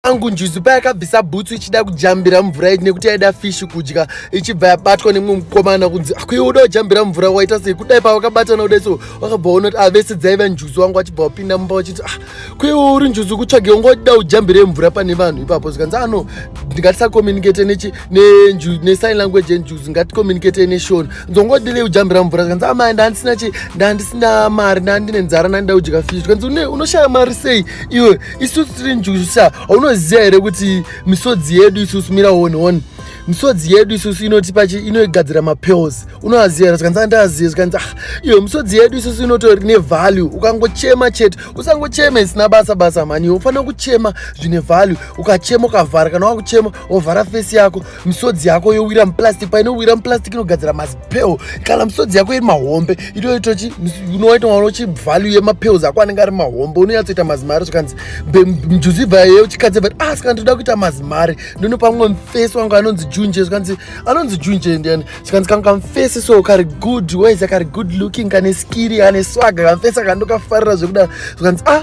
angu njuzu payakabvisa bhutsu ichida kujambira mvura nekuti yaida fishi kudya ichibva yabatwa nemumwe mukomana kunzi akuiwe uda kujambira mvura waita sei kudai pavakabatana kudai so wakabva ona kuti avese ah, dzaiva njuzu wangu achibva wapinda mumba wachiti ah kuiwe uri njuzu kutsvage unga uchida kujambire mvura pane vanhu ipapo zvikanzi ano ah, ndingatisakomunicate nesign language yenjuzu ngatikomunicate neshona nzongodilei kujambira mvura zvikanzi amai ah, ndandisina chi ndandisina mari ndandine nzara ndandida kudya fishi zvikanzi unoshaya mari sei iwe isusu tiri njusa haunoziva here kuti misodzi yedu isusu mira one one misodzi yedu isusu inotipa inoigadzira mapills unoaziva here zvikanzi andiazive zvikanzi ah iyo misodzi yedu isusu inotori nevalue ukangochema chete usangochema isina basa basa mhani ufanira kuchema zvine value ukachema ukavhara kana wakuchema wovhara fesi yako misodzi yako yowira muplastic painowira muplastic inogadzira mazipel kana misodzi yako iri mahombe itoitochi unowaitoona uchi value yemapels ako anenge ari mahombe unonyatsoita mazimari zvikanzi mjuzi ibva ye uchikadzi but ah saka ndoda kuita mazimari ndono pamwe mfesi wangu anonzi junje zvikanzi anonzi junje ndiani zvikanzi kangu kamfesi so kari good wise kari good looking kane skiri ane swaga kamfesi akandokafarira zvekuda zvikanzi ah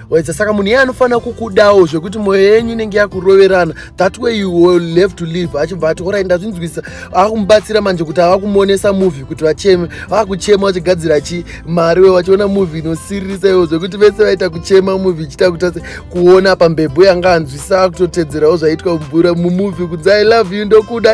waedza saka munhu iye anofanira kukudawo zvekuti mwoyo yenyu inenge yakuroverana that way you will have to live achibva ati orai ndazvinzwisa akumubatsira manje kuti avakumonesa movie kuti vacheme vakuchema vachigadzira chi mari we vachiona movie inosiririsa iwo zvekuti vese vaita kuchema movie ichiita kuti ase kuona pambebwe yanga anzwisa akutotedzerawo zvaitwa mubura mumovie kunzi i love you ndokuda